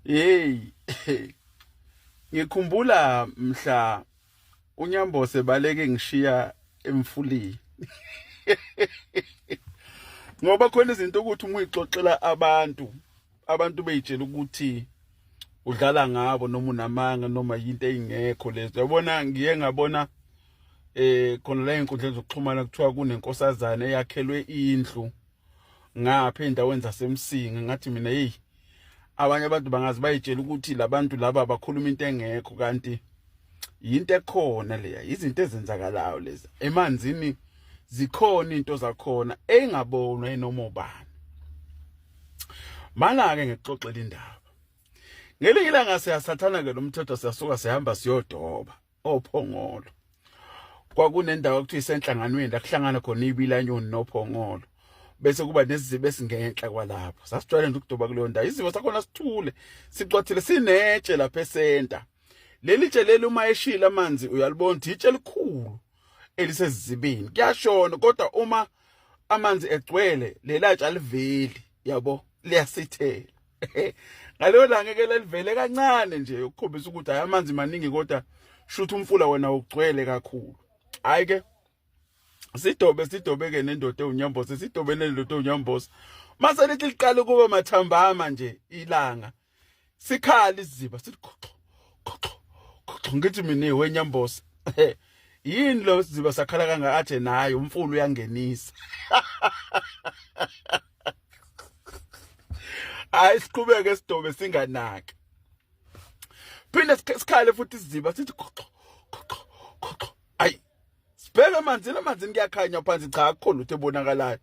hey ngikhumbula mhla unyambose baleke ngishiya emfulini ngoba khona izinto ukuthi uma uyixoxela abantu abantu beyitshela ukuthi udlala ngabo noma unamanga noma yinto eyingekho lezo yabona ngiye ngabona eh khona la enkundleni zokuxhumana kuthiwa kunenkosazana eyakhelwe indlu ngapha endaweni zasemsinga ngathi mina hey abanye abantu bangazi bayitshela ukuthi labantu laba bakhuluma into engekho kanti yinto ekhona leya izinto ezenzakalayo lezi emanzini zikhona into zakhona engabonwa enoma ubani malake ngixoxela indaba ngelinye ilanga siyasathana ke lomthetho siyasuka sihamba siyodoba ophongolo kwakunendawo okuthiwa isenhlanganweni la kuhlangana khona ibilanyoni nophongolo bese kuba nezizibe esingenhla kwalapho sasijwayele nje ukuduba kuleyo ndawo izibo sakhona sithule sicwathile sinetshe lapha esenta leli tshe leli uma eshila amanzi uyalibona ukuthi itshe elikhulu elisezibini kuyashona kodwa uma amanzi egcwele lelatshe aliveli yabo liyasithela ngaleyo langa ke lelivele kancane nje ukukhombisa ukuthi hayi amanzi maningi kodwa shuthi umfula wena ugcwele kakhulu hayi ke sidobe sidobe ke nendoda unyambosa sidobe nendoda unyambosa mase lithi liqale kuba mathambama nje ilanga sikhala iziba sithi khoxo khoxo khoxo ngithi mina wenyambosa yini lo siziba sakhala kanga athe naye umfulu uyangenisa hayi siqhubeke sidobe singanaki phinde sikhale futhi isiziba sithi khoxo khoxo khoxo ayi sibheke emanzini emanzini kuyakhanya phansi cha akukho lutho ebonakalayo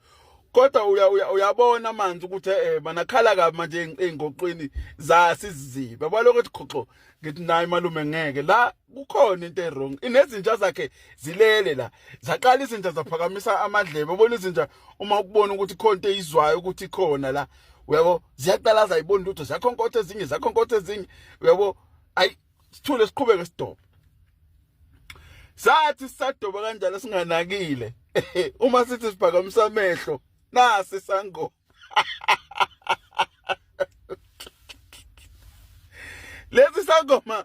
kodwa uyabona amanzi ukuthi eh manakhala kabi manje engoqweni zasi iziziba baloko ukuthi khoxo ngithi nayi malume ngeke la kukhona into ewrong inezinja zakhe zilele la zaqala izinja zaphakamisa amadlebe ubona izinja uma ukubona ukuthi khona into eyizwayo ukuthi khona la uyabo ziyaqala zayibona lutho zakhonkotha ezinye zakhonkotha ezinye uyabo ayi sithule siqhubeke sidoba sathi sisadoba kanjalo singanakile uma sithi siphakamisa amehlo nasi sangoma lesi sangoma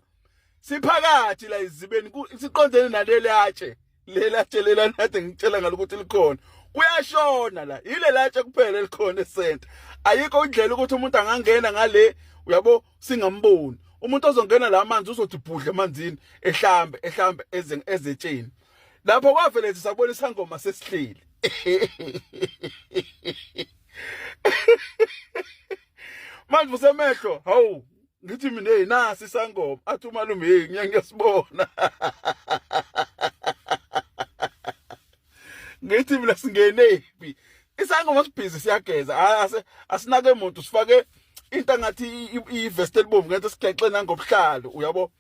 siphakathi la izibeni siqondene naleli atshe lela atshe lela nade ngitshela ngalo ukuthi likhona kuyashona la yile latshe kuphela elikhona esenta ayikho indlela ukuthi umuntu angangena ngale uyabo singamboni umuntu ozongena la amanzi uzothi bhudle emanzini ehlambe ehlambe ezetsheni lapho kwavele nje sabona isangoma sesihleli manje usemehlo hawu ngithi mina hey nasi isangoma athi umalume hey ngiya ngiyasibona ngithi mina singenephi isangoma sibhizi siyageza ase asinake umuntu sifake into ngathi ivest elibomvu ngathi sigexe nangobuhlalo uyabo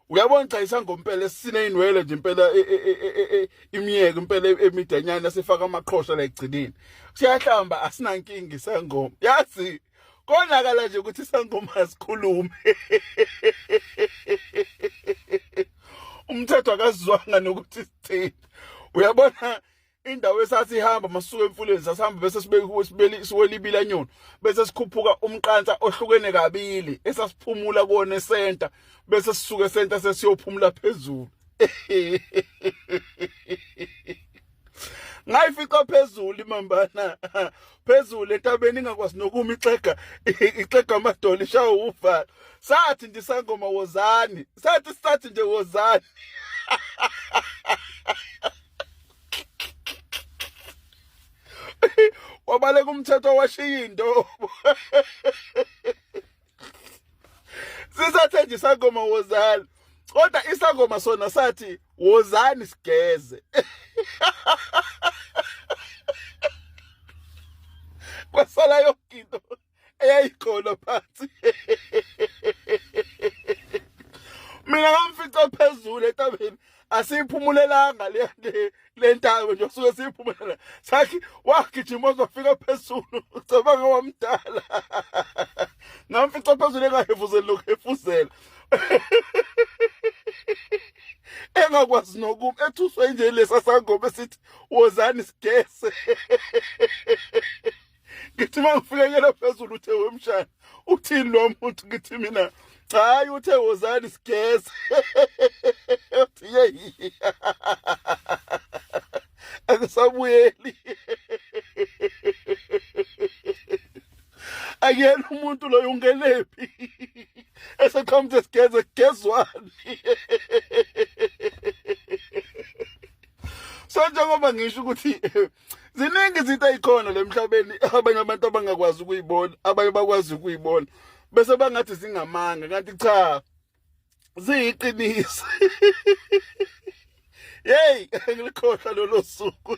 uyabona cha isangompela esineyinwele nje impela e, e, e, imiyeke impela emidanyana esifaka amaqhosha la egcineni siyahlamba asinankinga isangoma yazi konakala nje ukuthi isangoma asikhulume umthetho akazizwanga nokuthi sithini uyabona indawo esasihamba masuka emfuleni sasihamba bese sibeke siwelibila nyoni bese sikhuphuka umqansa ohlukene kabili esasiphumula kone center bese sisuke center sesiyophumula phezulu ngayifica phezulu imambana phezulu etabeni ingakwazi nokuma ixega ixega amadolo ishawa uvala sathi ndisangoma wozani sathi sathi nje wozani wabaleka umthetho washiya into sisathenje isangoma wozani kodwa isangoma sona sathi wozani sigeze kwasala yonke into eyayikhona phansi mina ngamfica phezulu etabeni asiyiphumulelanga le le ntaba nje suke siyiphumulela sathi wagijima uzofika phezulu ucabanga wamdala ngamfica phezulu engahefuzeli nokuhefuzela engakwazi nokum ethuswe nje lesa sangoma esithi wozani sigese ngithi uma ngifikekela phezulu uthe wemshana uthini lo muntu ngithi mina hayi uthe wozani sigeze uthi yeyi akusabuyeli akuyena umuntu loyo ungenephi eseqhamuthi sigeze kugezwani so njengoba ngisho ukuthi ziningi izinto ezikhona lemhlabeni abanye abantu abangakwazi ukuyibona abanye bakwazi ukuyibona bese bangathi zingamanga kanti cha ziyiqiniso hey ngilikhohlwa lolo suku